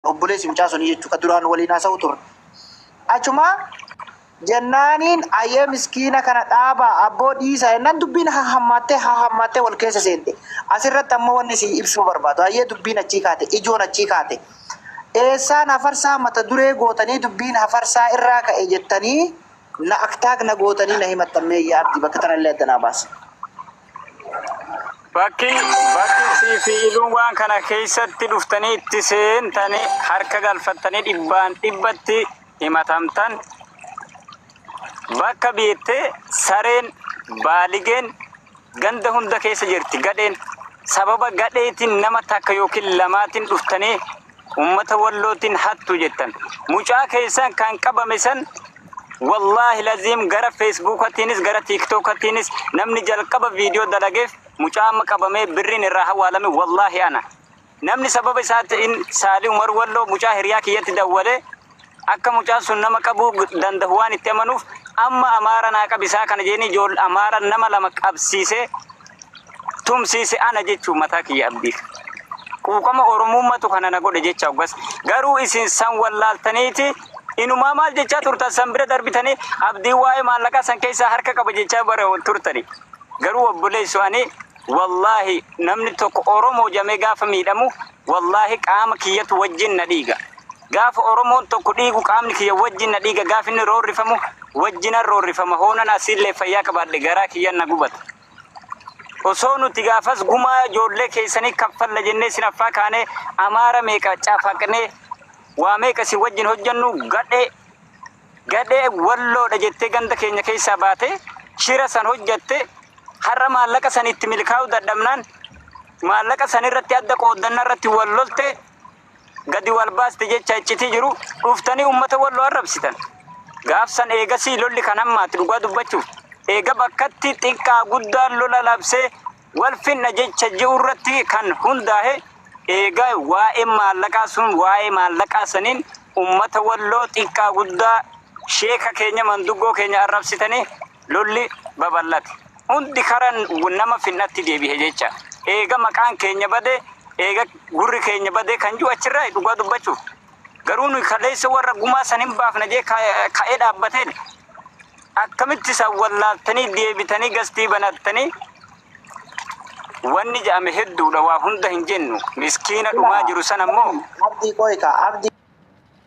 obboleessi mucaa sunii jechuudha ka duraan waliin haasa'u turre. Achuma jennaaniin ayyee miskiina kana dhaabaa abboo dhiisaa jennaan dubbiin haa hammaattee haa hammaattee wal keessa seente. Asirratti ammoo wanni si ibsuu barbaadu ayyee dubbiin achii kaate ijoon achii kaate. Eessaan hafarsaa mata duree gootanii dubbiin hafarsaa irraa ka'e jettanii na aktaak na gootanii na himattan meeyyaa abdii bakka tanallee adda naa baasa. Bakki bakki sii fi iluun waan kana keessatti dhuftanii itti seentanii harka galfattanii dhibbaan dhibbatti himatamtan bakka beettee sareen baaligeen ganda hunda keessa jirti gadheen sababa gadheetiin nama takka yookiin lamaatiin dhuftanii Ummata wallootiin hattu jettan. Mucaa keessan kan qabame san wallaahi laziim gara feesbuukatiinis gara tiiktookatiinis namni jalqaba viidiyoo dalageef mucaa amma qabamee birriin irraa hawaalame wallaahi ana. Namni sababa isaatti in saalii umar walloo mucaa hiriyaa kiyyatti dawwalee Akka mucaan sun nama qabuu dandahu waan itti amanuuf amma Amaara naa qabisaa kana jeeni ijool Amaara nama lama qabsiisee tumsiise ana jechuu mataa kiyya abdiif. Quuqama Oromuummatu kana na godhe jecha oggas. Garuu isin san wallaaltaniiti inumaa maal jechaa turtan san bira darbitanii abdiin waa'ee maallaqaa san keessaa harka qaba jechaa bara turtani. Garuu obboleessu ani wallaahi namni tokko Oromoo jamee gaafa miidhamu wallaahi qaama kiyyatu wajjin na dhiiga. Gaafa Oromoon tokko dhiigu qaamni kiyya wajjin na dhiiga, gaafa inni roorrifamu wajjinan roorrifama, hoonan asiillee fayyaa qabaadhe garaa kiyya na gubata. Osoo nuti gaafas gumaa ijoollee keessanii kaffalla jennee isin affaa kaanee Amaara meeqa cafaqnee waa meeqa isin wajjin hojjennu gadhee gadhee walloodha jettee ganda keenya keessaa baatee shira san hojjatte har'a maallaqa san itti milkaa'uu dadhabnaan maallaqa san irratti adda qooddanna irratti wal lolte gadi wal baaste jecha iccitii jiru dhuftanii uummata walloo arrabsitan. Gaafsan eegasii lolli kan hammaate dhugaa dubbachuuf eega bakkatti xiqqaa guddaan lola labsee wal finna jecha ji'u irratti kan hundaahe eega waa'een maallaqaa sun waa'ee maallaqaa saniin uummata walloo xiqqaa guddaa sheeka keenya manduggoo keenya arrabsitanii Lolli babal'ate. Hundi kara nama finnatti deebihe jecha. Eega maqaan keenya bade, eega gurri keenya bade kan jiru achirraayi dhugaa dubbachuuf. Garuu nuyi kaleessa warra gumaa san hin baafna jee ka'ee dhaabbateen akkamitti san wallaaltanii deebitanii gastii banattanii wanni jedhame hedduudha waa hunda hin jennu miskiina dhumaa jiru san ammoo Abdii qoy kaa abdii.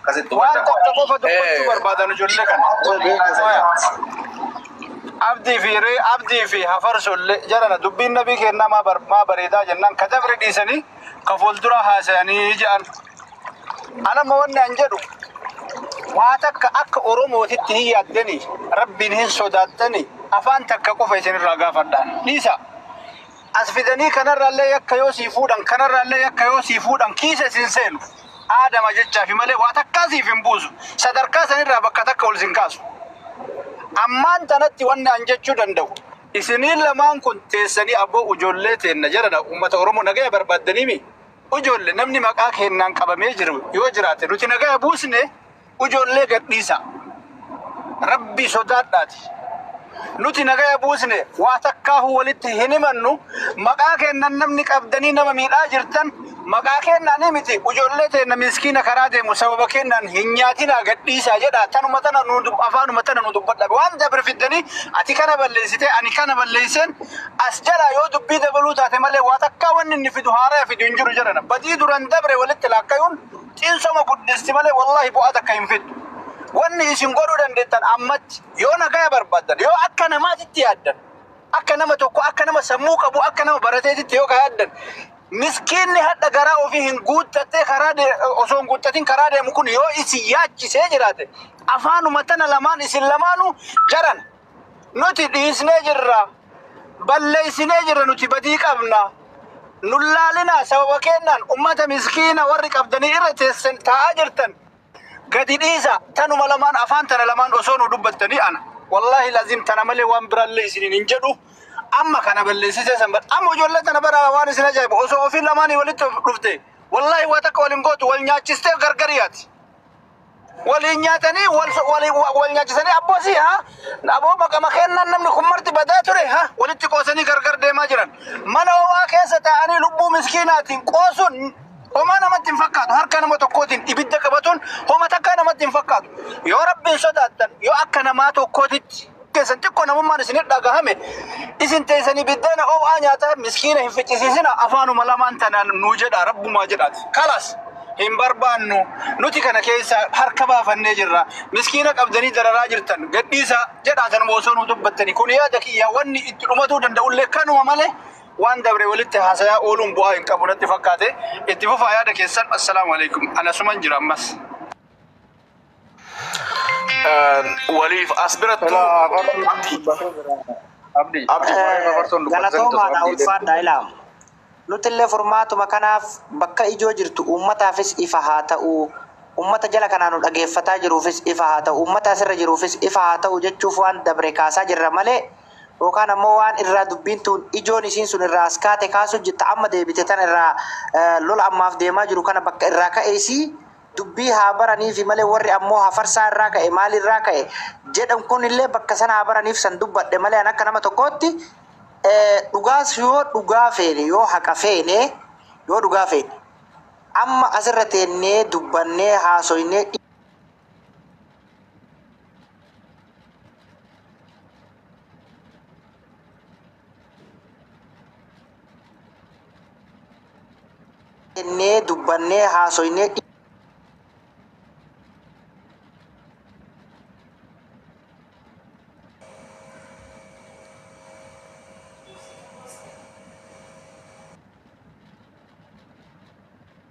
Akkasitti waan hubadha. tokko qofa dubbachuu Eh. barbaadan ijoollee kana. Abdii fi ree abdii fi hafarsollee jarana dubbiin nabii kennaa maa bar- maa bareedaa jennaan ka dabre dhiisanii ka fuuldura haasayanii jedhan. Anamma wanni an jedhu waa takka akka Oromootitti hin yaaddanii rabbiin hin sodaattanii afaan takka qofa isinirraa gaafadhaan dhiisa. As fidanii kanarraallee yakka yoo sii fuudhan, kanarraallee yakka yoo sii fuudhan kiisa isin seenu. Aadama jechaafi malee waa takkaa siif hin buusu. Sadarkaa sanirraa bakka takka ol isin kaasu. Ammaan tanatti wanni an jechuu danda'u. Isiniin lamaan kun teessanii abo ujoollee teenna jarana ummata Oromoo nagaya barbaaddaniimi? Ujoolle, namni maqaa keennaan qabamee jiru yoo jiraate nuti nagaya buusne? Ijoollee gadhiisaa. Rabbii sodaadhaati. Nuti nagaya buusne waa takkaahu walitti hin himannu. Maqaa keennan namni qabdanii nama miidhaa jirtan maqaa keennaanii miti. Ijoollee teenna miskiina karaa deemu sababa keennaan hin nyaatinaa gadhiisaa jedhaa. Tanuma tana nu dub- afaanuma tana nu dubbadha. Waan dabre fiddanii ati kana balleessitee ani kana balleesseen as jalaa yoo dubbii dabaluu taate malee waa takkaa wanni inni fidu haaraya fidu hin jiru jedhana. Badii duran dabre walitti laakkayuun Cinsama guddissi malee wallahi bu'aa takka hin fiddu. Wanni isin godhuu dandeettan ammatti yoo nagaya barbaaddan, yoo akka namaatitti yaaddan, akka nama tokko, akka nama sammuu qabu, akka nama barateetitti yoo ka yaaddan, miskiinni hadha garaa ofii hin guuttattee karaa de- osoo hin guuttatin karaa deemu kun yoo isin yaachisee jiraate, afaanuma tana lamaan isin lamaanuu jarana. Nuti dhiisnee jirra. Balleessinee jirra nuti badii qabna. Nun laalinaa sababa keennaan ummata miskiina warri qabdanii irra teessan taa'aa jirtan gadi dhiisa. Tanuma lamaan afaan tana lamaan osoo nu dubbattanii ana. Wallaahi laziim tana malee waan biraallee isiniin hin jedhu. Amma kana balleessitee san bara. Amma ijoollee tana bara waan isin ajaa'ibu osoo ofii lamaanii walitti dhufte wallaahi waa takka wal hin gootu wal nyaachistee gargar yaati. waliin nyaatanii wal wal- wal nyaachisanii abboosi ha aboo maqama kennaan namni kun marti badaa ture ha walitti qoosanii gargar deemaa jiran mana homaa keessa taa'anii lubbuu miskiinaatiin qoosuun homaa namatti hin fakkaatu harka nama tokkootiin ibidda qabatuun homa takkaa namatti hin fakkaatu yoo rabbiin sodaattan yoo akka namaa tokkootitti keessan xiqqoo namummaan isinir dhagahame isin teessanii biddeena oo'aa nyaataa miskiina hin ficcisiisina afaanuma lamaan tanaan nuu jedha rabbumaa jedhaati kalas hin barbaannu nuti kana keessa harka baafannee jirra miskiina qabdanii dararaa jirtan gadhiisa jedhaa tanuma osoo nuu dubbattani kun yaada kiyya wanni itti dhumatuu danda'ullee kanuma malee waan dabre walitti haasayaa ooluun bu'aa hin qabu natti fakkaate itti fufaa yaada keessan assalaamu alaikum anasuman jira ammas. waliif as birattu Ilaa afartuun abdi dubbatee jira. Abdi. abdi waa'ee afartuun dubbatee Galatoomaa naa abdi ulfaadhaa ilaam. Nutillee furmaatuma kanaaf bakka ijoo jirtu uummataafis ifa haa ta'u, uummata jala kanaa nu dhageeffataa jiruufis ifa haa ta'u, uummata asirra jiruufis ifa haa ta'u jechuuf waan dabre kaasaa jirra malee yookaan ammoo waan irraa dubbiin tuun ijoon isiin sun irraa as kaate kaasuu jirta amma deebite tana irraa eh, lola ammaaf deemaa jiru kana bakka irraa ka'e isii dubbii haa baraniifi malee warri ammoo hafarsaa irraa ka'e maal irraa ka'e jedhan kun illee bakka sana haa baraniif san dubbadhe malee an akka nama tokkootti eh, dhugaas yoo dhugaa feene yoo haqa feene yoo dhugaa feene amma asirra teennee dubbannee haasoynee jennee dubbannee haasoynee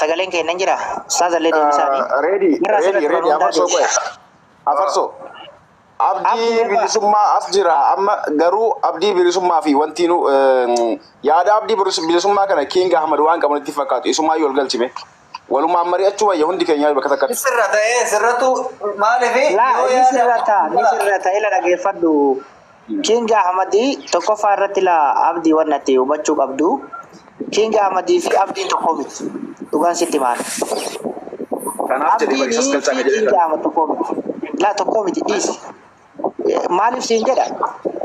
Sagaleen keenya hin jiraa? Ustaaza illee deebisaani. Reedi, Warra reedi, asirratti reedi, barnootaa afarsoo qo'e. deebisaa. Afarsoo. Abdii Abdii irraa- bilisummaa as jira. Amma garuu abdii bilisummaa fi wanti nu eh, yaada abdii bilis- bilisummaa kana Kiing Ahmad waan qabu natti fakkaatu. Isumaa yoo ol galchime. Walumaan mari'achuu wayya hundi keenya bakka takkatti. Sirra ta'ee sirrattu maaliif Laa yoo ni yaada sirrata ni sirrata ila dhageeffadhu. King Ahmad tokkoffaa irratti la abdi wan ati hubachuu qabdu King Ahmad fi abdiin tokko miti dhugaan sitti maan Kanaaf jedhe bari isas galchaa ka jedhe King Ahmad tokko miti la tokko miti dhiis maaliif siin jedha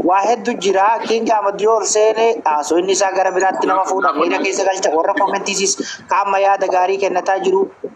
waa heddu jira King Ahmad yoo ol seene haasu inni isaa gara biraatti nama fuudha miira keessa galcha warra komentiisis ka amma yaada gaarii kennataa jiru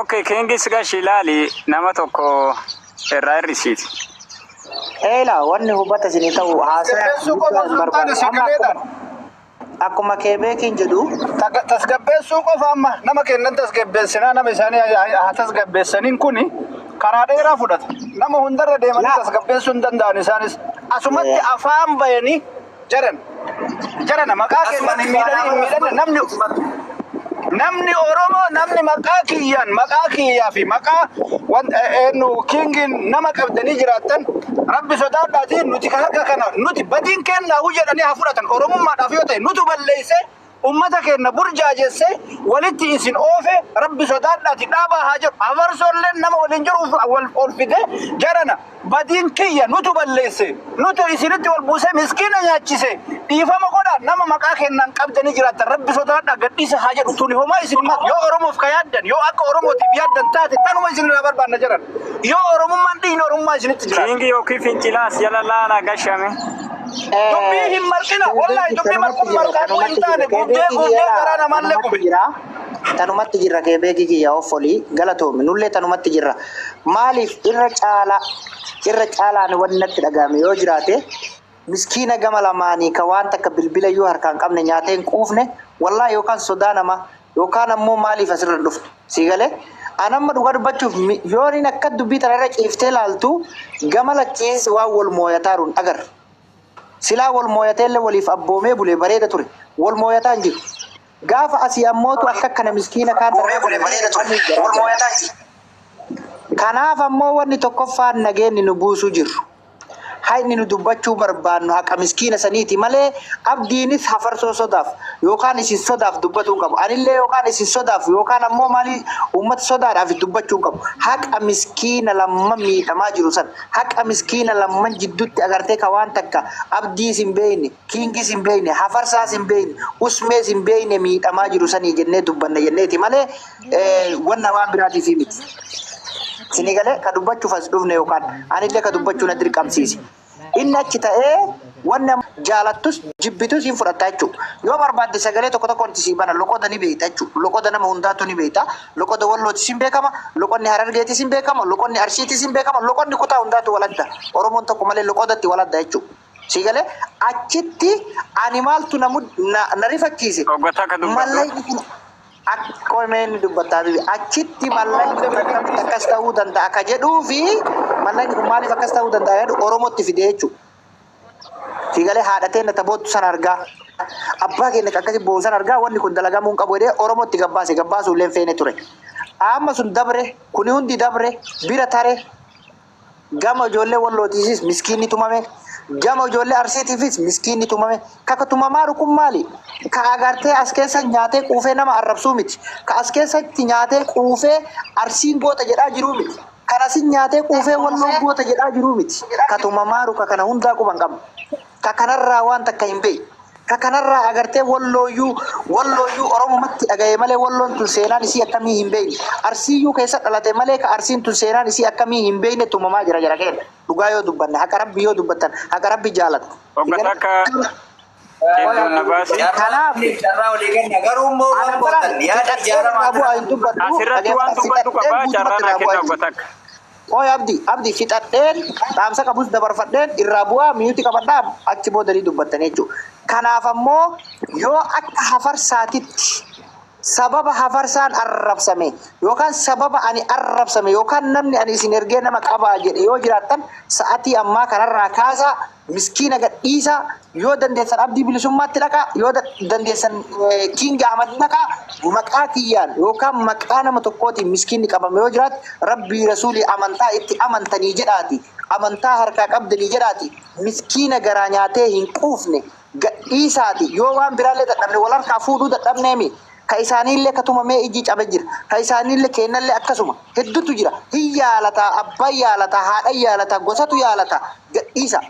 Okay, kingis gashi laali nama tokko irraa hir'isiiti. Eela wanni hubata isinii ta'u haasaya Tasgabbeessuu qofa guddaa hin osoo hin taane barbaadu. Amma sagalee akkuma akkuma keebeekiin jedhu Taga- tasgabbeessuu qofa amma nama kennan tasgabbeessinaa nama isaanii haa- haa haa tasgabbeessaniin kuni karaa dheeraa fudhata. Nama hundarra deemanii Yaa. tasgabbeessuu hin danda'an isaanis. Asumatti Ee. afaan bayanii jaran jarana maqaa keessan hin miidhanii hin miidhanne namni namni Oromoo namni maqaa kiyyaan maqaa kiyyaa fi maqaa wan eenyu kiingiin nama qabdanii jiraattan rabbi sodaadhaatiin nuti kan akka kana nuti badiin kennaa jedhanii haa fudhatan Oromummaadhaaf yoo ta'e nutu balleessee Ummata keenna burjaajesse, walitti isin oofe, Rabbi sodaadhaati dhaabaa haa jedhu. Hafarsoolleen nama waliin jiru uf wal ol fidee, jarana, badiin kiyya, nutu balleesse, nutu isinitti wal buusee miskiina nyaachise, dhiifama godhaa, nama maqaa keennaan qabdanii jiraattan Rabbi sodaadhaa gad dhiisaa haa jedhu. Tuni homaa isin hin martu. Yoo Oromoof ka yaaddan, yoo akka Oromootiif yaaddan taate tanuma isin irraa barbaanna jarana. Yoo Oromummaan dhiigni Oromummaa isinitti jiraate. King yookiin fincilaa as jala laala gashame. Dubbii hin marqina. Wallahi dubbii marquun marqaatu hin taane. Guddee guddee garaa namaallee gube. Tanumatti jirra keebeekii kiyya offolii galatoomi nullee tanumatti jirra maaliif irra caalaa irra caalaan wanni natti dhaga'ame yoo jiraate miskiina gama lamaanii ka waan takka bilbila iyyuu harkaan qabne nyaatee hin quufne wallaa yookaan sodaa namaa Yookaan ammoo maaliif asirra hin dhufne? Sii galee? An amma dhugaa dubbachuuf mi- yooniin akka dubbii tana irra ciiftee laaltu gama lachiis waan wal mooyataaru hin agarre. Silaa wal mooyateellee waliif abboomee bulee bareeda ture. Wal mooyataa hin jiru. Gaafa asii ammootu akka akkana miskiina kaan Abboomee bulee bareeda ture. Wal mooyataa hin jiru. Kanaaf ammoo wanni tokkoffaan nageenni nu buusuu jirru. Haqni nu dubbachuu barbaannu haqa miskiina saniiti malee Abdiinis hafarsoo sodaaf yookaan isin sodaaf dubbatuu hin qabu. Anillee yookaan isin sodaaf yookaan ammoo maalii uummata sodaadhaaf dubbachuu hin qabu. Haqa miskiina lamman miidhamaa jiru san, haqa miskiina lamman jidduutti agartee ka waan takka Abdiis hin beeyne, Kingis hin beekne, hafarsaas hin beekne, usmees hin beekne miidhamaa jiru sanii jennee dubbanna jenneeti malee wanna waan biraatiif miti. Sinii galee ka dubbachuuf as dhufne yookaan anillee ka dubbachuu na dirqamsiise. Inni achi ta'ee wanna jaalattus jibbitus hin fudhatta jechuudha. Yoo barbaadde sagalee tokko tokkoon itti sii bana loqoda ni beekta jechuudha. Loqoda nama hundaatu ni beekta. Loqoda wallootis hin beekama, loqonni harargeetis hin beekama, loqonni arsiitis hin beekama, loqonni kutaa hundaatu waladda. Oromoon tokko malee loqodatti waladda jechuudha. Sii galee achitti ani maaltu na mud- na- na rifachiise. Dhoggataa akka dubbatu. Mallayni kun akkoo inni dubbataa bibi achitti mallayni kun akkamitti akkas ta'uu danda'a akka jedhuu fi mallayni kun maaliif akkas ta'uu danda'a jedhu Oromootti fide jechuudha. Sii galee haadha teenna taboottu san argaa abbaa keenya kan akkasii boo'u san argaa wanni kun dalagamuu hin qabu jedhee Oromootti gabbaase gabbaasuu illee hin feene ture. Amma sun dabre kuni hundi dabre bira tare Gama ijoollee wallootiifis miskiinni tumame. Gama ijoollee arsiitiifis miskiinni tumame. Kaka tumamaa rukun maali? Ka agartee as keessa nyaatee quufee nama arrabsuu miti. Ka as keessatti nyaatee quufee arsiin goota jedhaa jiruu miti. Kan asin nyaatee quufee walloon goota jedhaa jiruu miti. Ka tumamaa ruka kana hundaa quban qabna. Ka kanarraa waan takka hin beeyne. Ka kanarraa agartee wallooyyuu wallooyyuu oromumatti dhagaye malee walloon tun seenaan isii akkamii hin beeyne. Arsiiyyuu keessa dhalate malee ka arsiin tun seenaan isii akkamii hin beeyne tumamaa jira jara keenna. Dhugaa yoo dubbanne haqa rabbii yoo dubbattan haqa rabbi jaalata. Hogga takka qeerroon na baasi. Kanaaf Maaliif carraa olii kenna? Garuu immoo waan anabbalaan gootan yaada fixadhee irraa ijaaramaa bu'aa kana hin dubbadhu Asirratti waan dhageeffadhu dubbadhu fixadhee qaba guutumatti carraa naa irraa bu'aa kenna hin hogga dubbadhu. takka. Qoy abdi abdi fixadheen dhaamsa qabus dabarfadheen irraa bu'aa mute qabadha achi booda ni dubbattani jechuu kanaaf ammoo yoo akka hafarsaatitti sababa hafarsaan arrabsame yookaan sababa ani arrabsame yookaan namni ani isin ergee nama qabaa jedhe yoo jiraattan sa'atii ammaa kanarraa kaasaa Miskiina gad dhiisaa yoo dandeessan abdii bilisummaatti dhaqaa yoo da- dandeessan eh, King Ahmad dhaqaa maqaa kiyyaan yookaan maqaa nama tokkootiin miskiinni qabame yoo jiraate rabbii rasuulii amantaa itti amantanii jedhaati amantaa harkaa qabdanii jedhaati miskiina garaa nyaatee hin quufne gad dhiisaati yoo waan biraallee dadhabne wal harkaa fuudhuu dadhabneemi ka isaaniille ka tumamee ijji cabe jira, ka isaaniille keennalle akkasuma, heddutu jira, hin yaalata, abbaan yaalata, haadhan yaalata, gosatu yaalata, gadhiisa.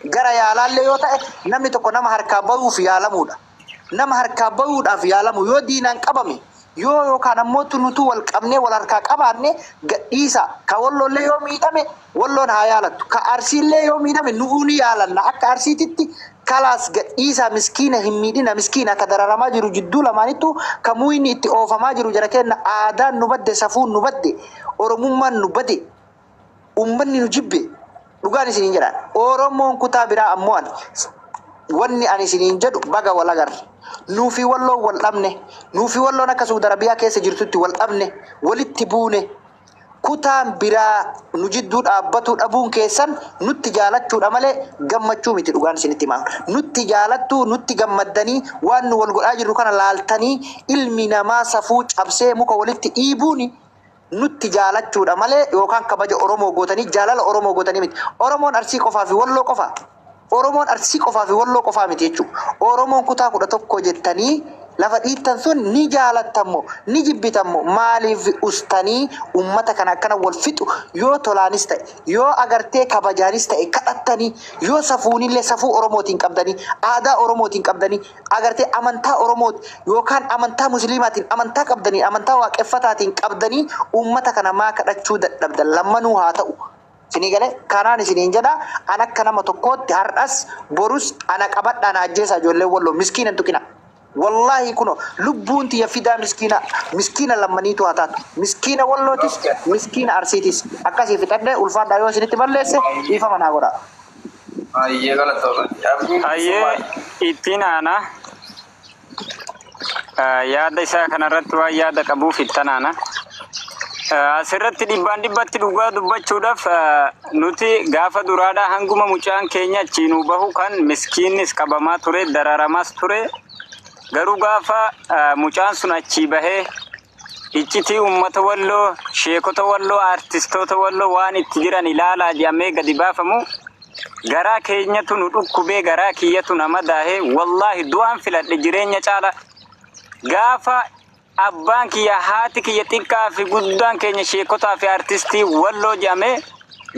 Gara yaalaalle yoo ta'e, namni tokko nama harkaa bayuuf yaalamuu dha. Nama harkaa bayuudhaaf yaalamu yoo diinaan qabame, yoo yookaan ammoo nutuu wal qabnee wal harkaa qabaanne, gadhiisa. Ka Wolloollee yoo miidhame, Walloon haa yaalattu. Ka Arsiillee yoo miidhame nu'uu ni yaalanna akka Arsiititti kalaas gad dhiisaa miskiina hin miidhina miskiina ka dararamaa jiru jidduu lamaanittuu ka muuyni itti oofamaa jiru jara keenna aadaan nu badde safuun nu badde Oromummaan nu bade ummanni nu jibbe dhugaan isiniin jedhaan Oromoon kutaa biraa ammoo ani wanni ani isiniin jedhu baga wal agarre nuufi walloon wal dhabne nuufi walloon akka suudarabiyaa keessa jirtutti wal dhabne walitti buune kutaan biraa nu jidduu dhaabbatuu dhabuun keessan nutti jaalachuudha malee gammachuu miti dhugaan isinitti himaa nutti jaalattuu nutti gammaddanii waan nu wal godhaa jirru kana laaltanii ilmi namaa safuu cabsee muka walitti dhiibuun nutti jaalachuudha malee yookaan kabaja Oromoo gootanii jaalala Oromoo gootanii miti Oromoon Arsii qofaa fi Walloo qofa Oromoon Arsii qofaa fi Walloo qofaa miti jechuu. Oromoon kutaa 11 jettanii lafa dhiittan sun ni jaalattan moo ni jibbitan moo maaliif ustanii ummata kana akkana wal fixu yoo tolaanis ta'e yoo agartee kabajaanis ta'e kadhattanii yoo safuunillee safuu Oromootiin qabdanii aadaa Oromootiin qabdanii agartee amantaa Oromoot yookaan amantaa musiliimaatiin amantaa qabdanii amantaa waaqeffataatiin qabdanii ummata kana maa kadhachuu dadhabdan lammanuu haa ta'u Isinii galee? Kanaan isiniin jedha, an akka nama tokkootti har'as, borus ana qabadhaa na ajjeesaa ijoolleen Walloo. Miskiina hin tuqinaa. Wallaahi kunoo lubbuun tiyya fidaa miskiina, miskiina lammaniituu haa taatu. Miskiina Wallootis, miskiina Arsiitis akkasii fixadhee ulfaadhaa yoo isinitti balleesse dhiifama naa godhaa. Hayyee galatoomi. Abdii Hayyee bilisummaati. ittiin aanaa. yaada isaa kanarratti waan yaada qabuuf ittanaana. Asirratti dhibbaan dhibbatti dhugaa dubbachuudhaaf nuti gaafa duraadhaa hanguma mucaan keenya achii nuu bahu kan miskiinnis qabamaa ture dararamaas ture garuu gaafa mucaan sun achii bahee Iccitii uummata Walloo, Sheekota Walloo, Aartistoota Walloo waan itti jiran ilaalaa jedhamee gadi baafamu garaa keenyatu nu dhukkubee garaa kiyyatu na madaahe wallaahi du'aan filadhe jireenya caala gaafa abbaan kiyya haati kiyya xiqqaa fi guddaan keenya sheekotaa fi aartistii Walloo jedhamee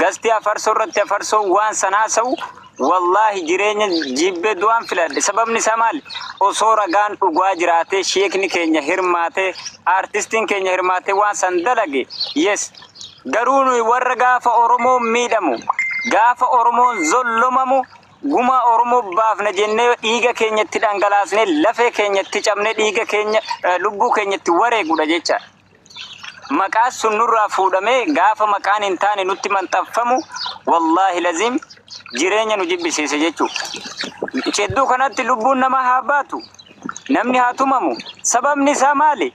gastii afarsoo irratti afarsoo waan san haasa'u Wallahi jireenya jibbe du'an filadhe sababni isaa maali osoo ragaan dhugaa jiraatee sheekni keenya hirmaatee artistiin keenya hirmaatee waan san dalage yes garuu nuyi warra gaafa oromoon miidhamu gaafa oromoon zollomamu gumaa oromoo baafna jennee dhiiga keenya itti dhangalaasnee lafee keenya itti cabnee dhiiga keenya eh, lubbuu keenya itti wareegudha jecha maqaan sun nurraa fuudhamee gaafa maqaan hin taane nutti maxxanfamu wallaahi laziim jireenya nu jibbisiise jechuudha. Cedduu kanatti lubbuun namaa haa baatu, namni haa tumamu. Sababni isaa maali?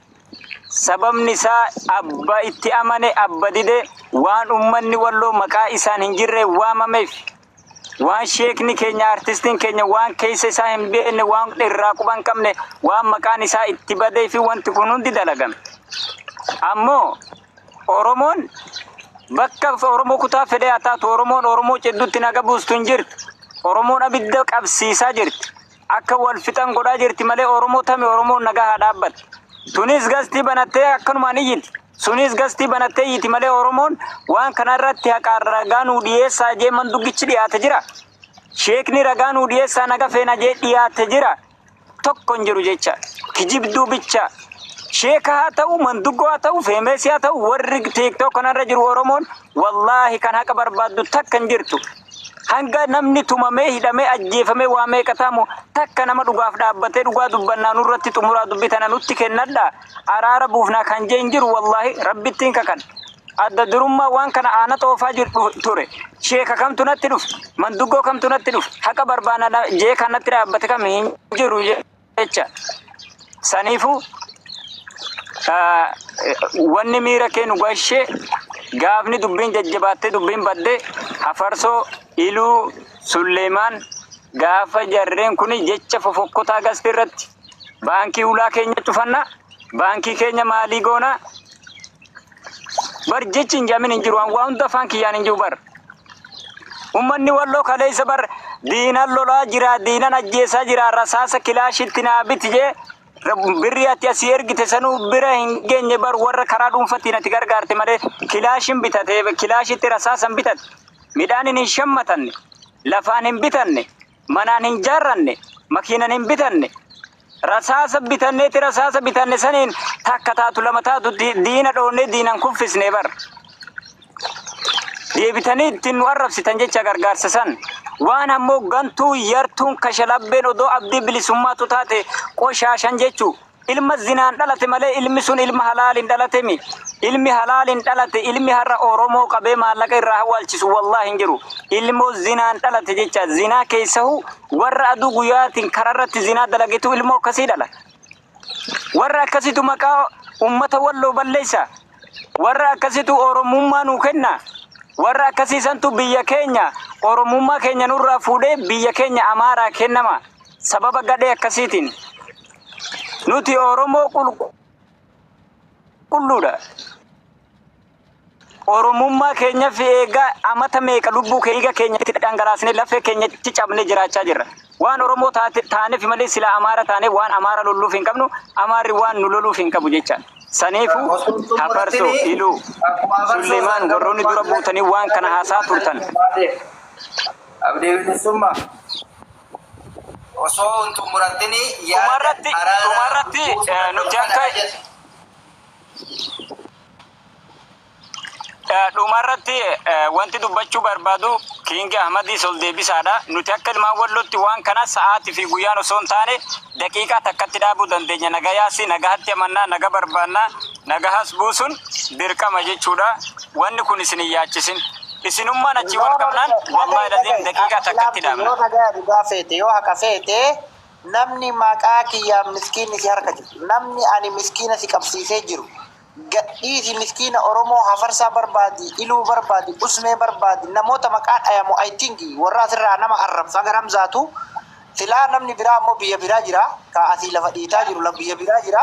Sababni isaa abba itti amane abba dide waan ummanni walloo maqaa isaan hin jirreen waamameef Waan sheekni keenya artistiin keenya waan keessa isaa hin beekne waan irraa quba hin qabne waan maqaan isaa itti badee fi wanti kun hundi dalagame. Ammoo Oromoon bakka Oromoo kutaa fedhee haa taatu Oromoon Oromoo ciddutti naga buustu hin jirtu. Oromoon abidda qabsiisaa jirti. Akka wal fixan godhaa jirti malee Oromoo tami Oromoon nagaa haa dhaabbatu. Tunis gastii banattee akkanumaan iyyiti. Suniis gastii banatteeyyiti malee Oromoon waan kana irratti haqaan ragaa nuu dhiyeessaa jee manduggichi dhiyaate jira. Sheekni ragaa nuu dhiyeessaa naga feena jee dhiyaate jira. Tokko hin jiru jecha. Kijibduu bicha. Sheeka haa ta'u, manduggoo haa ta'u, feemeesii haa ta'u, warri tiiktook kanarra jiru Oromoon wallaahi kan haqa barbaaddu takka hin jirtu. Hanga namni tumamee, hidhamee, ajjeefamee waa meeqa ta'amu takka nama dhugaaf dhaabbatee dhugaa dubbannaa nurratti xumuraa dubbi tana nutti kennadhaa. Araara buufnaa kan jee hin jiru wallahi rabbittiin kakadhe. Adda durummaa waan kana aana xoofaa jiru dhufe ture. Sheeka kamtu natti dhufe. Manduggoo kamtu natti dhufe. Haqa barbaana na- jee kan natti dhaabbate kam hin jiru je- jecha. Saniifuu Ah, wanni miira kee nu gashee gaafni dubbiin jajjabaattee dubbiin badde hafarsoo iluu sulleemaan gaafa jarreen kun jecha fofokkotaa gasti irratti baankii ulaa keenya cufanna baankii keenya maalii goona bar jechi hin jamin hin jiru waan waa hunda afaan kiyyaan hin jiru bar ummanni walloo kaleessa bar diinan lolaa jira diinan ajjeesaa jira rasaasa kilaashitti naa biti jee birri ati asii ergite sanuu bira hin geenye bar warra karaa dhuunfatiin ati gargaarte malee kilaashin bitate kilaashitti rasaasan bitate midhaan hin shammatanne lafaan hin bitanne Manaan hin jaarranne, makiinan hin bitanne. Rasaasa bitanneeti rasaasa bitanne saniin takka taatu lama taatu di- diina dhoonnee diinan kuffisne bar. Deebitanii ittiin nu arrabsitan jecha gargaarsa san. Waan ammoo gantuu yartuun kashalabbeen odoo abdii bilisummaatu taate qoshaashan jechuu Ilma zinaan dhalate malee ilmi sun ilma halaaliin dhalate mi? Ilmi halaaliin dhalate ilmi har'a Oromoo qabee maallaqa irraa hawwaalchisu wallaah hin jiru. Ilmo zinaan dhalate jecha zinaa keessahu warra aduu guyaatiin karaa irratti zinaa dalagetu ilmoo akkasii dhala. Warra akkasitu maqaa ummata walloo balleessa. Warra akkasitu Oromummaa nuu kenna. Warra akkasii santu biyya keenya Oromummaa keenya nurraa fuudhee biyya keenya Amaaraa kennama. Sababa gadhee akkasiitiin nuti Oromoo qulqulluudha. Oromummaa keenya fi eegaa amata meeqa lubbuu keenya keenyatti dhangalaasnee lafee keenyatti cabnee jiraachaa jirra. Waan Oromoo taate- taaneef malee sila Amaara taanee waan Amaara lolluuf hin qabnu, Amaarri waan nu loluuf hin qabu jecha. Saniifuu Hafarsoo, Iluu, Sulleemaan warroonni dura buutanii waan kana haasaa turtan. Abdii bilisummaa. Osoo hin xumuratin yaada araaraa buusuu qabda. Dhuma irratti wanti dubbachuu barbaadu King Ahmadiis ol deebisaadha. Nuti akka ilmaan Wallootti waan kana sa'aatii fi guyyaan osoo hin taane daqiiqaa takkatti dhaabuu dandeenya. Nagayaas nagahatti amanna, naga barbaanna. Nagahas buusun dirqama jechuudha wanni kun isin hin yaachisin isinummaan achii wal qabnaan wallahi laziim daqiiqaa takkatti dhaabna. Yoo nagaya dhugaa feete yoo haqa feete namni maqaa kiyyaan miskiinni si harka jiru namni ani miskiina si qabsiisee jiru gadhiisi miskiina oromoo hafarsaa barbaadi iluu barbaadi usmee barbaadi namoota maqaa dhayamu I think warra asirraa nama arrabsu haga ramzaatu silaa namni biraa ammoo biyya biraa jira ka asii lafa dhiitaa jiru biyya biraa jira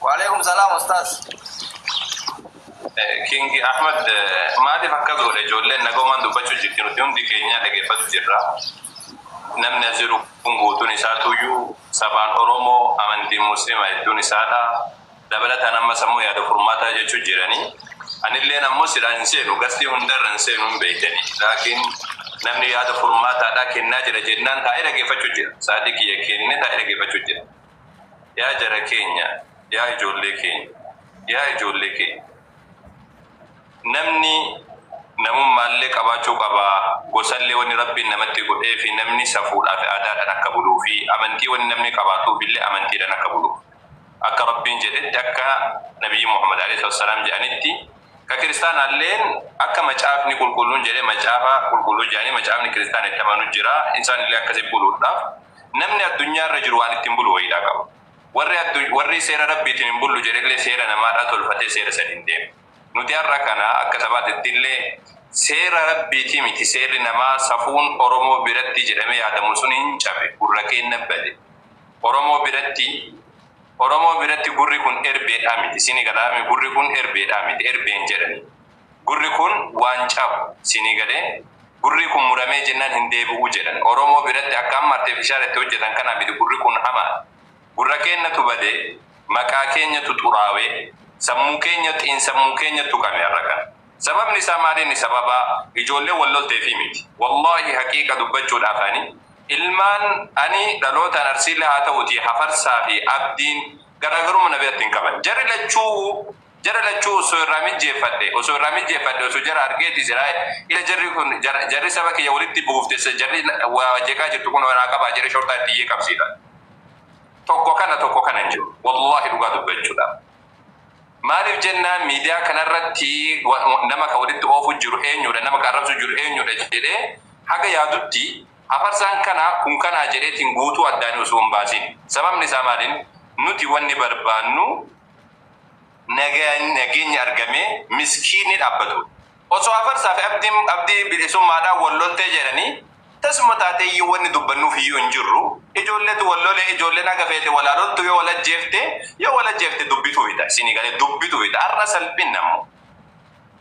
Walekum salam ustaz king ahmed maaliif akkas godhe ijoolleen nagoomaan dubbachuu jirti nuti hundi keenyaa dhageeffatu jirra namni as jiru kun guutuun isaa tuyyuu sabaan oromoo amantiin muslima hedduun isaadha dabalataan amma sammuu yaada furmaataa jechuu jirani anilleen ammoo silaa hin seenu gastii hundarra hin seenu hin beeytani laakiin namni yaada furmaataadhaa kennaa jira jennaan taa'ee dhageeffachuu jira saadii kiyya kenne taa'ee dhageeffachuu jira Yaa jara keenya yaa ijoollee keenya yaa ijoollee keenya namni namummaallee qabaachuu qaba gosallee wanni rabbiin namatti godheefi namni safuudhaafi aadaadhaan akka buluufi amantii wanni namni qabaatuufillee amantiidhaan akka buluuf akka rabbiin jedhetti akka nabiyyi muhammad aleyhi salatu wasalaam jedhanitti ka kiristaanaalleen akka macaafni qulqulluun jedhe macaafa qulqulluu jedhanii macaafni kiristaana itti amanu jira isaanillee akkasi buluudhaaf Namni addunyaa irra jiru waan ittiin bulu wayiidhaa qaba. Warri addu, warri seera Rabbiitiin hin bullu jedhe illee seera namaadhaa tolfatee seera saniin deema. Nuti har'a kana akka sabaatitti illee seera Rabbiitii miti seerri namaa safuun Oromoo biratti jedhamee yaadamu sun hin cabe, gurra keenna bade. Oromoo biratti, Oromoo biratti gurri kun erbeedhaa miti. Siinii galaa mi? Gurri kun erbeedhaa miti, erbee hin jedhanii. Gurri kun waan cabu siinii galee? Gurrii kun muramee jennan hin deebi'uu jedhan. Oromoo biratti akka amma artefishaal itti hojjatan kana miti gurri kun hamaadha. Gurra keennatu bade, maqaa keenyatu xuraawe, sammuu keenya, xiinsammuu keenya tuqame har'a kana. Sababni isaa maali inni sababa ijoolleen wal lolteefii miti. Wallaahi haqiiqa dubbachuudhaaf ani ilmaan ani dhalootaan Arsiillee haa ta'uutii Hafarsaa fi Abdiin garaagarumma na biratti hin qaban. Jarri lachuu Jara lachuu osso irraa mijjeeffadhe osso irraa mijjeeffadhe osso jara argeeti siraa ila jarri kun jarri saba kiyya walitti buufte jarri waa jeqaa jirtu kunoo naa qabaa jedhe shorxaa itti iyyee qabsiifadhe tokko kana tokko kana hin jiru wallahi dhugaa dubbachuudhaaf maaliif jennaan miidiyaa kanarratti nama ka walitti oofu jiru eenyuudha nama ka arrabsu jiru eenyuudha jedhee haga yaadutti hafarsaan kana kun kanaa jedheetiin guutuu addaanii osoo hin baasin sababni isaa maaliin nuti wanni barbaannu nageenyi argamee miskiinni dhaabbatu. Osoo Afarsaa fi Abdii bilisummaadhaan wal loltee jedhanii tasuma taatee iyyuu wanni dubbannuuf iyyuu hin jirru. Ijoolletu wal lole, ijoolleen haga feete wal haa loltu yoo wal ajjeefte yoo wal ajjeefte dubbitu fida. Isinii galee dubbitu fida. Har'a salphinna immoo.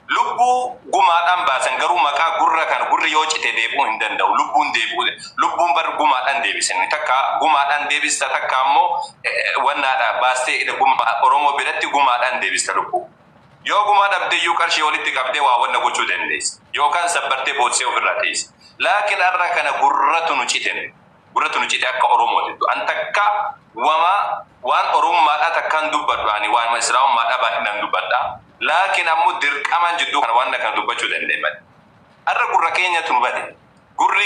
Lubbuu gumaadhaan baasan garuu maqaa gurra kana gurri yoo cite deebi'uu hin danda'u. Lubbuun deebi'uu lubbuun bar gumaadhaan deebisani takka gumaadhaan deebista takka ammoo wannaadha baastee ida guma Oromoo biratti gumaadhaan deebista lubbuu. Yoo gumaa dhabde iyyuu qarshii walitti qabdee waa wanna gochuu dandeessa. Yookaan sabbartee bootsee ofirraa teessa. Laakin arra kana gurratu nu cite nu. gurra tuni cite akka oromo jettu an takka wama waan oromummaadha takka hin dubbadhu ani waanuma islaamummaadha baay'inaan dubbadha laakiin ammo dirqamaan jidduu kana waan kana dubbachu danda'e male arra gurra keenyatu nu bade gurri